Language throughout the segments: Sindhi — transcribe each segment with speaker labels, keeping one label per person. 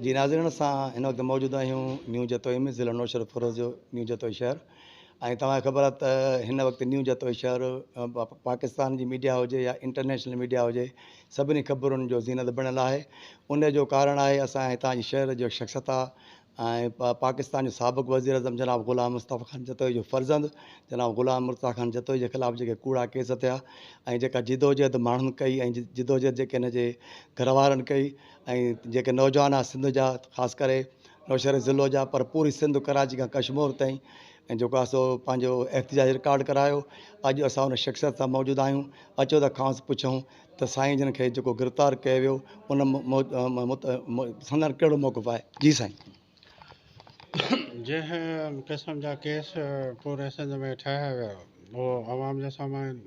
Speaker 1: جي ناظرين اسان هن وقت موجود آهيون نيو جتوئي ۾ ضلع نوشهر فروز جو نيو جتوئي شهر ۽ توهان کي خبر آهي ته هن وقت نيو جتوئي شهر پاڪستان جي ميڊيا هجي يا انٽرنيشنل ميڊيا هجي سڀني خبرن جو زينت بڻيل آهي ان جو ڪارڻ آهي اسان هتان جي شهر جو شخصيت آهي ۽ پاڪستان جو سابق وزيراعظم جناب غلام مصطفيٰ خان جتوئي جو فرزند جناب غلام مرتضيٰ خان جتوئي جي خلاف جيڪي ڪوڙا ڪيس ٿيا ۽ جيڪا جدوجهد ماڻهن ڪئي ۽ جدوجهد جيڪي هن جي گهر وارن ڪئي ۽ جيڪي نوجوان آ سنڌ جا خاص ڪري نوشهري ضلعو جا پر پوري سنڌ ڪراچي کان ڪشمور تائين ۽ جيڪو آ سو پنهنجو احتجاج رڪارڊ ڪرايو اڄ اسان ان شخصيت سان موجود آهيون اچو ته کانئس پڇون ته سائين جن کي جيڪو گرفتار ڪيو ويو ان سندن ڪهڙو موقف آهي؟ جي سائين. جنهن
Speaker 2: قسم جا ڪيس پوري سنڌ ۾ ٺاهيا ويا اهو عوام جا سامان آهن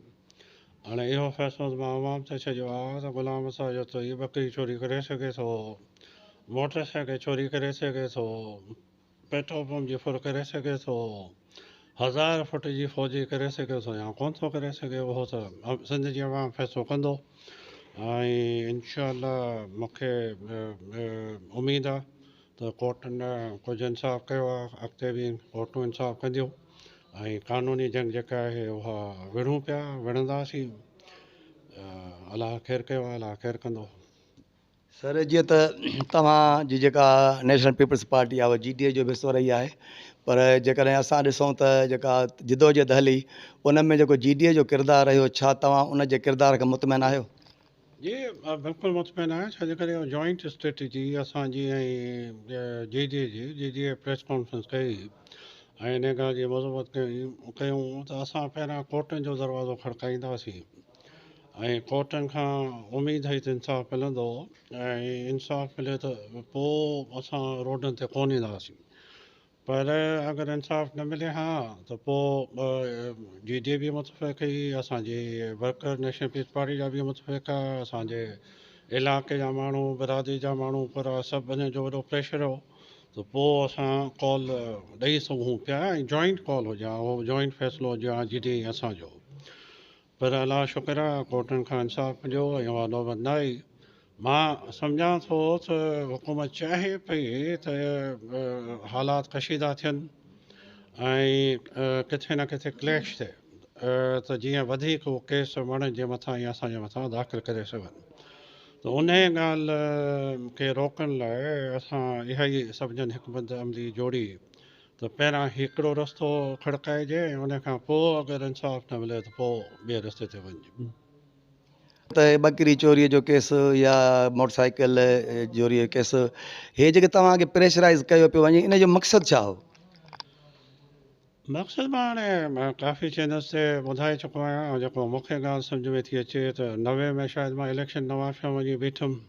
Speaker 2: هاڻي اهو فيصلو ته مان عوام تي ڇڏيو آهي ته غلام مصطفيٰ جو ته هي ٻڪري چوري ڪري سگهي ٿو موٽر سائيڪل چوري ڪري سگهي ٿو پيٽرول پمپ جي ڦر ڪري سگهي ٿو، هزار فٽ جي فوجي ڪري سگهي ٿو يا ڪونه ٿو ڪري سگهي اهو ته سنڌ جي عوام فيصلو ڪندو ۽ انشاء الله مون کي اميد آ ته ڪورٽن ڪجهه انصاف ڪيو آ اڳتي به ڪورٽون انصاف ڪنديون ۽ قانوني جنگ جيڪا آهي اها وڙهون پيا وڙهنداسين الله خير ڪيو آ الله خير ڪندو سر
Speaker 1: جيئن ته توهان جي جيڪا نيشنل پيپلز پارٽي آهي اها جي ڊي اي جو به حصو رهي آهي پر جيڪڏهن اسان ڏسون ته جيڪا جدوجهد هلي ان ۾ جيڪو جي ڊي اي جو ڪردار رهيو ڇا توهان ان جي ڪردار کان مطمئن آهيو؟ جي
Speaker 2: بلڪل مطمئن آهيان ڇا جيڪڏهن اها جوائنٽ اسٽريٽجي اسان جي ۽ جي ڊي اي جي G D A press conference ڪئي هئي ۽ انهيء ڳالهه جي مذمت ڪيون ته اسان پهريان ڪورٽن جو دروازو کڙڪائينداسين ۽ ڪورٽن کان اميد هئي ته انصاف ملندو ۽ انصاف ملي ته پوء اسان روڊن تي ڪونه اينداسين پر اگر انصاف نه ملي ها ته پوء جي جي بي متفق هئي اسان جي ورڪر نيشنل پيپلز پارٽي جا بي متفق هئا اسان جي علاقي جا ماڻهو برادري جا ماڻهو پر سڀ ان جو وڏو پريشر هو ته پوء اسان ڪال ڏئي سگهون پيا ۽ جوائنٽ ڪال هجي ها اهو جوائنٽ فيصلو هجي ها جي ڊي اسان جو پر الله شڪر آ ڪورٽن کان انصاف مليو ۽ اها نوبت نه آئي. مان سمجهان ٿو ته حڪومت چاهي پئي ته حالات ڪشيده ٿين ۽ ڪٿي نه ڪٿي ڪليش ٿئي ته جيئن وڌيڪ اهو ڪيس مڙهن جي مٿان يا اسان جي مٿان داخل ڪري سگهن ته انهي ڳالهه کي روڪڻ لاء اسان اهائي سمجهن حڪمت عملي جوڙي ته پهريان هڪڙو رستو کڙڪائجي ۽ ان کان پوء اگر انصاف نه ملي ته پوء ٻئي رستي تي وڃجي.
Speaker 1: ته هي ٻڪري چوريء جو ڪيس يا موٽر سائيڪل چوريء جو ڪيس هي جيڪي توهان کي پريشرائيز ڪيو پيو وڃي ان جو مقصد ڇا هو؟
Speaker 2: مقصد مان هاڻي ڪافي چينلز تي ٻڌائي چڪو آهيان ۽ جيڪو مون کي ڳالهه سمجهه ۾ ٿي اچي ته نوي ۾ شايد مان اليڪشن نوابشاهه وڃي بيٺم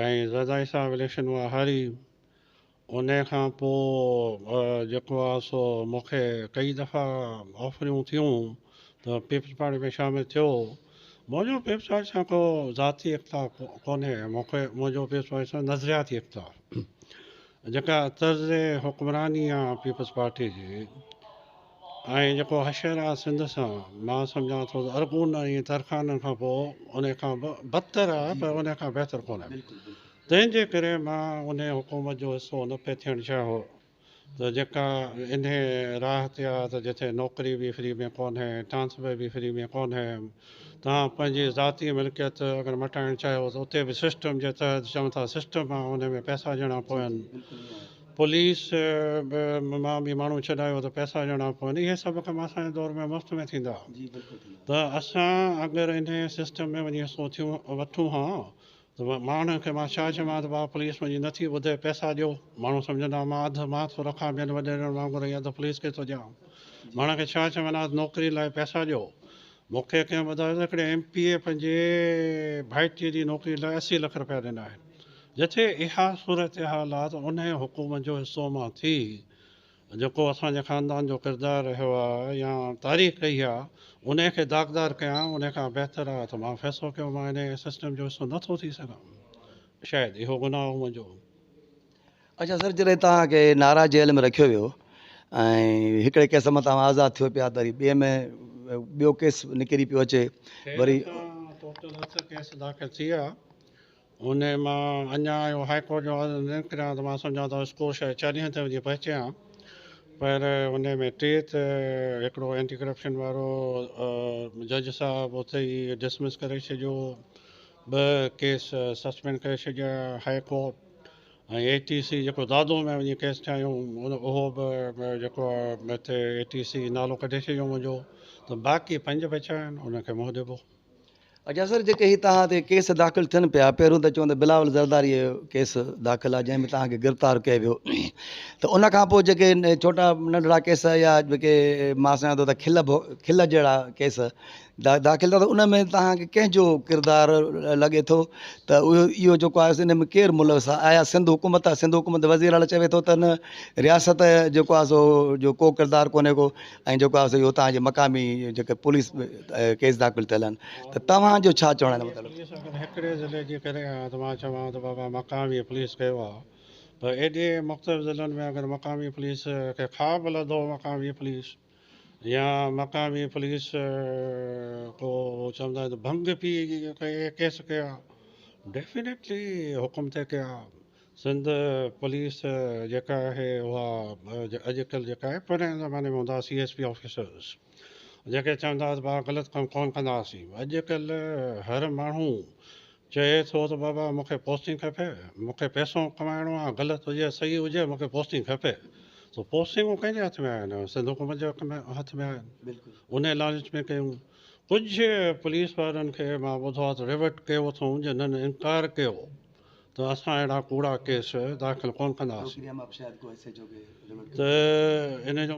Speaker 2: ۽ زرداري صاحب اليڪشن مان هاري انهي کان پوء جيڪو آ سو مون کي ڪئي دفعا آفريون ٿيون ته پيپلز پارٽي ۾ شامل ٿيو. منهنجو پيپلز پارٽي سان ڪو ذاتي اختلاف ڪونهي، مون کي منهنجو پيپلز پارٽي سان نظرياتي اختلاف جيڪا طرز حڪمراني آ پيپلز پارٽي جي ۽ جيڪو حشر آ سنڌ سان مان سمجهان ٿو ته ارغونن ۽ ترخانن کان پوء انهي کان به بدتر آ پر انهي کان بهتر ڪونهي. تنهن جي ڪري مان انهي حڪومت جو حصو نه پئي ٿيڻ چاهيو ته جيڪا انهي راهه تي آهي ته جتي نوڪري به فري ۾ ڪونهي، ٽرانسفر به فري ۾ ڪونهي، توهان پنهنجي ذاتي ملڪيت اگر مٽائڻ چاهيو ته اتي به سسٽم جي تحت چون ٿا سسٽم مان انهي ۾ پئسا ڏيڻا پون، پوليس مان به ماڻهو ڇڏايو ته پئسا ڏيڻا پون، اهي سڀ ڪم اسان جي دور ۾ مفت ۾ ٿيندا ته اسان اگر انهي سسٽم ۾ وڃي حصو ٿيون وٺون ها ماڻهن کي مان ڇا چوان ته بابا پليس منهنجي نه ٿي ٻڌي پئسا ڏيو. ماڻهو سمجهندا مان اڌ مان ٿو رکان ٻين وڏيرن وانگر ۽ اڌ پليس کي ٿو ڏيان. ماڻهن کي ڇا چوان اڌ نوڪري لاء پئسا ڏيو. مون کي ڪنهن ٻڌايو ته هڪڙي ايم پي اي پنهنجي ڀائٽي جي نوڪري لاء اسي لک رپيا ڏنا آهن. جتي اها صورتحال آهي ته انهيء حڪومت جو حصو مان ٿي جيڪو اسان جي خاندان جو ڪردار رهيو آ يا تاريخ رهي آ انهي کي داغدار ڪيان انهي کان بهتر آ ته مان فيصلو ڪيو مان انهي سسٽم جو حصو نه ٿو ٿي سگهان شايد اهو گناهه هو منهنجو.
Speaker 1: اڇا سر جڏهن توهان کي نارا جيل ۾ رکيو ويو ۽ هڪڙي ڪيس مان توهان آزاد ٿيو پيا ته وري ٻئي ۾ ٻيو ڪيس
Speaker 2: نڪري پيو
Speaker 1: اچي وري. ٽي دفعا ٽوٽل اٺ
Speaker 2: ڪيس
Speaker 1: داخل
Speaker 2: ٿي ويا هن مان اڃا اهو هاء ڪورٽ جو آرڊر نه نڪريان ته مان سمجهان ٿو اسڪور شايد چاليهن تي وڃي پهچي ها پر ان ۾ ٽي ته هڪڙو اينٽي ڪرپشن وارو جج صاحب اتي ئي ڊسمس ڪري ڇڏيو ٻه ڪيس سسپينڊ ڪري ڇڏيا هاء ڪورٽ ۽ اي ٽي سي جيڪو دادو ۾ وڃي ڪيس ٺاهيون ان اهو به جيڪو هتي اي ٽي سي نالو ڪڍي ڇڏيو منهنجو ته باقي پنج بچا آهن ان کي منهن ڏبو اڄ اثر
Speaker 1: جيڪي هي توهان تي ڪيس داخل ٿين پيا پهريون ته چون ته بلاول زرداري جو ڪيس داخل آهي جنهن ۾ توهان کي گرفتار ڪيو ويو ته ان کان پوء جيڪي ڇوٽا ننڍڙا ڪيس يا جيڪي مان سمجهان ٿو ته کل کل جهڙا ڪيس داخل ٿا ته ان ۾ توهان کي ڪنهن جو ڪردار لڳي ٿو ته اهو اهو جيڪو آهي ان ۾ ڪير ملوث آهي آيا سنڌ حڪومت سنڌ حڪومت وزير اعليٰ چوي ٿو ته رياست جيڪو آهي سو جو ڪو ڪردار ڪونهي ڪو ۽ جيڪو آهي سو اهو اتان جي مقامي جيڪي پوليس ڪيس داخل ٿيل آهن ته توهان جو ڇا چوڻ آهن پوليس اگر هڪڙي ضلعي
Speaker 2: جي ڪري ها ته مان چوان ته بابا مقامي پوليس ڪيو آهي پر ايڏي مختلف ضلعن ۾ اگر مقامي پوليس کي خواب لڌو مقامي پوليس يا مقامي پوليس ڪو چوندا آهن ته ڀنگ پي ڪيس ڪيو آهي ڊيفينيٽلي حڪم تي ڪيو آهي سنڌ پوليس جيڪا آهي اها اڄ ڪلهه جيڪا آهي پريان زماني ۾ هوندا سي ايس پي آفيسرز جيڪي چوندا ته بابا غلط ڪم ڪون ڪنداسين اڄ ڪلهه هر ماڻهو چئي ٿو ته بابا مون کي پوسٽنگ کپي مون کي پيسو ڪمائڻو آهي غلط هجي صحيح هجي مون کي پوسٽنگ کپي سو پوسٽنگون ڪنهن جي هٿ ۾ آهن سنڌ حڪومت جي حق ۾ هٿ ۾ آهن ان لالچ ۾ ڪيون ڪجهه پوليس وارن کي مان ٻڌو آهي ته ريورٽ ڪيو اٿئون جنن انڪار ڪيو ته اسان اهڙا ڪوڙا ڪيس داخل ڪونه ڪنداسين ته ان جو